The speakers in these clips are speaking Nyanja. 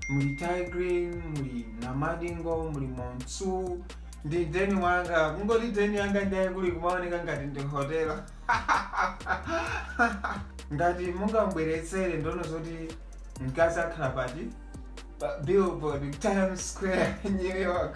muli tay grin muli namadingo muli montsu ndi deni wanga kungoti deni yanga ndiye kuli kumaoneka ngati ndi hotela ngati mungambweretsere ndono zoti mkazi akhala pati pa billboard times square new york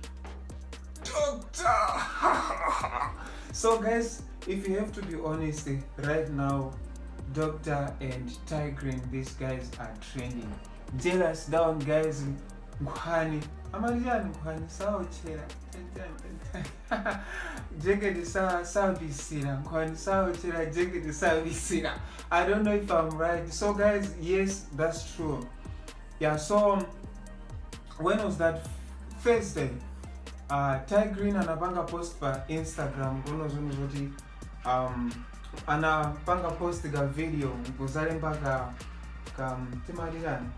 Doctor! so guys, if you have to be honest, right now, Doctor and Tigrin, these guys are trending. Jealous down guys, Nkhwani. Amaliani Nkhwani, sao chera. Jeketi sa savisira. Nkhwani sao chera, jeketi savisira. I don't know if I'm right. So guys, yes, that's true. Yeah, so when was that thursday uh, tay grin anapanga post pa instagram kuno zono zoti um, anapanga post ka video nkuzalemba ka ka timati kani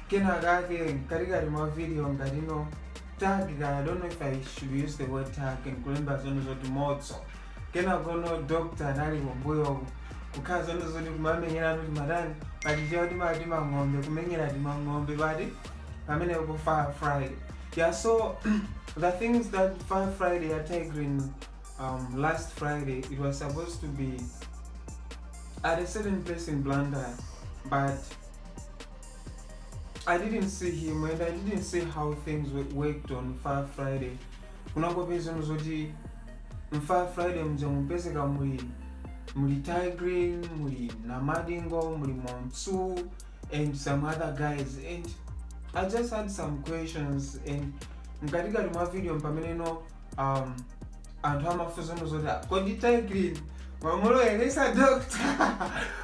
kena kake mkatikati mwa video ngati no tag ka i don't know if i should use the word tag and kulemba zono zoti motso kenako no dokta anali kumbuyo kukhala zono zoti kumamenyeratu timatani pachichewa timati timang'ombe kumenyera timang'ombe pati pamene ku fire friday yeah so the things that fire friday ya tay grin last friday it was supposed to be at a certain place in blantyre but i didn't see him and i didn't see how things wo- worked on fire friday kunangopeza zono zoti mu fire friday mja mupezeka muli muli tay grin muli namadingo muli montsu and some other guys and i just had some questions and mkatikati mwa video mpameneno um, anthu amafunsa zono zoti "Ah, kodi tay grin wamuloweretsa doctor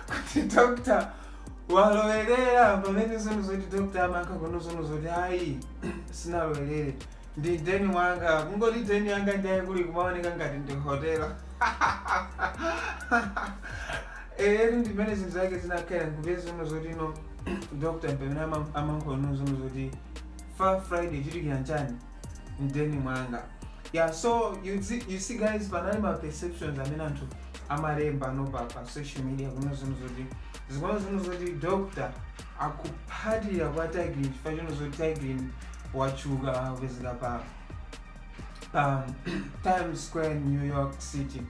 kuti doctor walowerera pamene zono zoti doctor amankanena zono zoti ayi sinalowerere Ndi deni wanga. Kungoti deni yanga ndiye kuli kumaoneka ngati ndi hotela. Eh, ndi mene zinthu zake zinakhalira nkupeza zono zoti no Dr. pamene ama- amankanena zono zoti Fire Friday chitikira nchani mdeni mwanga. Yeah, so you see, you see guys panali ma perceptions amene anthu amalemba no pa, pa social media kuno zono zoti zikuona zono zoti Dr. akuphatilira kwa tay grin chifukwa chono zoti tay grin watchuka kupezeka pa um, times square new york city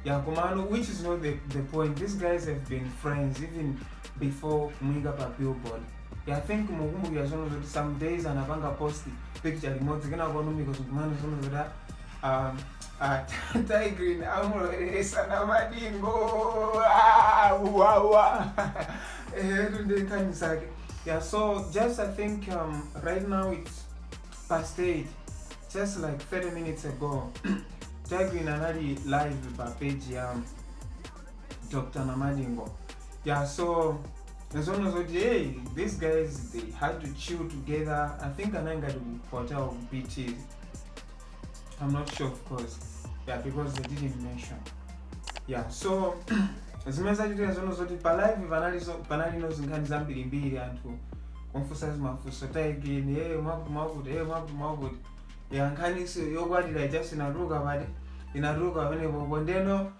yeah komano which is not the, the point these guys have been friends even before kumuyika pa billboard yeah, i think mukumbukira zono zoti some days anapanga post picture limodzi kenako anomika zokumana zono zoti Um, uh, Ty Green amulowelesa na madingo Ah, wa, wa. Eh, tunde time zake yeah so just i think um, right now it's past eight just like 30 minutes ago Ty Green anali live pa page ya dr namadingo yeah so as long as what hey these guys they had to chill together i think ananga to hotel bt I'm not sure of course. Yeah, because they didn't mention. Yeah, so zimene zachitika zono zoti pa live panali zo- panali no zinkhani zambirimbiri anthu kumfunsa zimafuso Tay Grin e mwakuti mwakuti e mwakuti mwakuti ya nkhani si- yokwatira ijanso inatuluka pati inatuluka pamenepo kondeno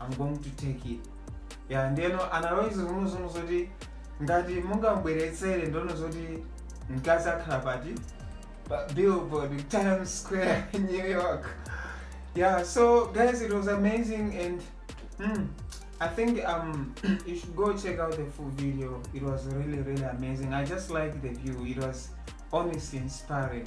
I'm going to take it ya ndeno analonjeza zomwezono zoti ngati mungabweretsere ndono zoti mkazi akhala pati pa billboard times square new york yeah so guys it was amazing and mm, i think um you should go check out the full video it was really really amazing i just like the view it was honestly inspiring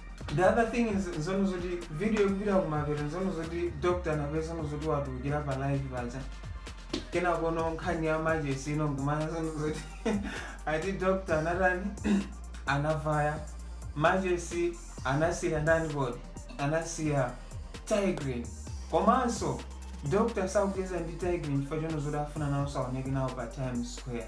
the other thing is nzonena zoti video ikupita kumapeto nzonena zoti doctor anapezana nzonena zoti watulukira pa live paja kenakono nkhani ya majesi ino nkumanena nzonena zoti ati doctor anatani anavaya majesi anasiya ndani kodi anasiya Tay Grin komanso doctor sakucheza ndi Tay Grin chifukwa chonena zoti safuna nawo saoneke nawo pa times square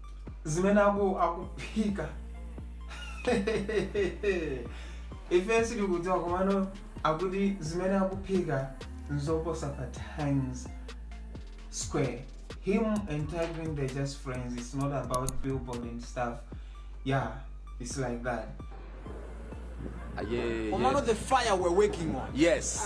zimene aku akuphika ife sitikudziwa komano akuti zimene akuphika nzoposa pa times square him and Tigrin they're just friends it's not about billboard and stuff yeah it's like that Ah, yeah, Komano yes. the fire we're working on. yes